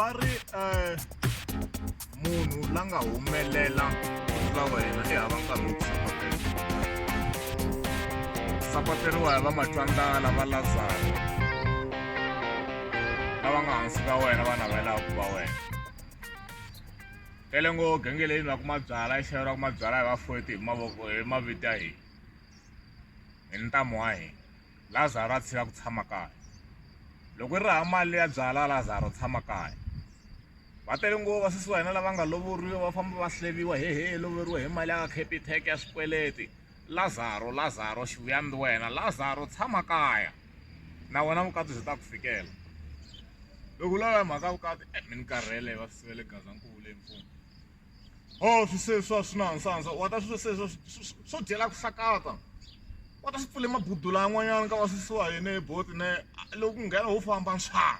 va ri um munhu la nga humelela va wena i hava nkarhi wo sapateriwa hi va matlwangala va lazaro lava nga hansi ka wena va navelaka ku va wena tele ngo gengeleni va kuma byala i xero ra kuma byala hi vafoti hi mavoko hi mavito ya hina hi ntamu wa hina lazaro a tshika ku tshama kaya loko ri raha mali ya byala lazaro tshama kaya va tele ngo vasesi wa hina lava nga lovoriwa va famba va hleriwa hehe loveriwa hi mali ya ka capitec ya swikweleti Lazaro, Lazaro, xi vuya ni wena. Lazaro, tshama kaya. Na wena vukati byi ta ku fikela. Loko u lava mhaka vukati, eh, mi ni karhele va swi sivele Gazankulu le mfumo. Oh, swi se swa swi na nsandza, wa ta swi se swa swo dyela ku hlakata. Wa ta swi pfule mabudula yan'wanyana ka va susiwa yini boti ne, loko ku nghena ho famba nxaa.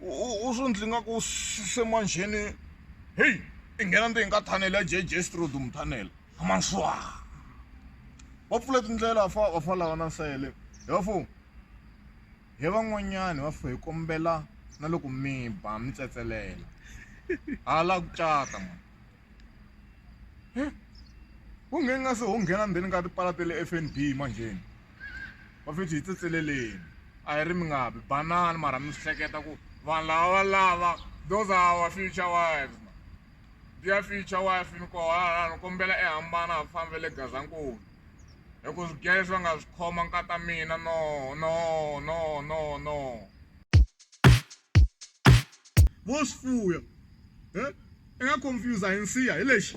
u swi ndzi nga ku se manjheni heyi i nghena ndzeni ka thanele ya jj strod muthanele amaswa va pfule tindlela fa va fa lava na nsele hi va fo hi van'wanyani va fo hi kombela na loko mi ba mi tsetselela hala ku cata mani he wo nge nga se ho nghena ndzeni ka tipala ta le F_N_B manjheni va fithi hi tsetseleleni a hi ri mi nga bi banana mara mi swi hleketa ku vanhu lava va lava those are our future wives ma dear future wife ni koho halala ni kombela i hambana ha fambi le Gazankulu hi ku swigiya leswi va nga swi khoma nkata mina no no no no no vo swi fuya i nga confuse hi nsiha hi lexi.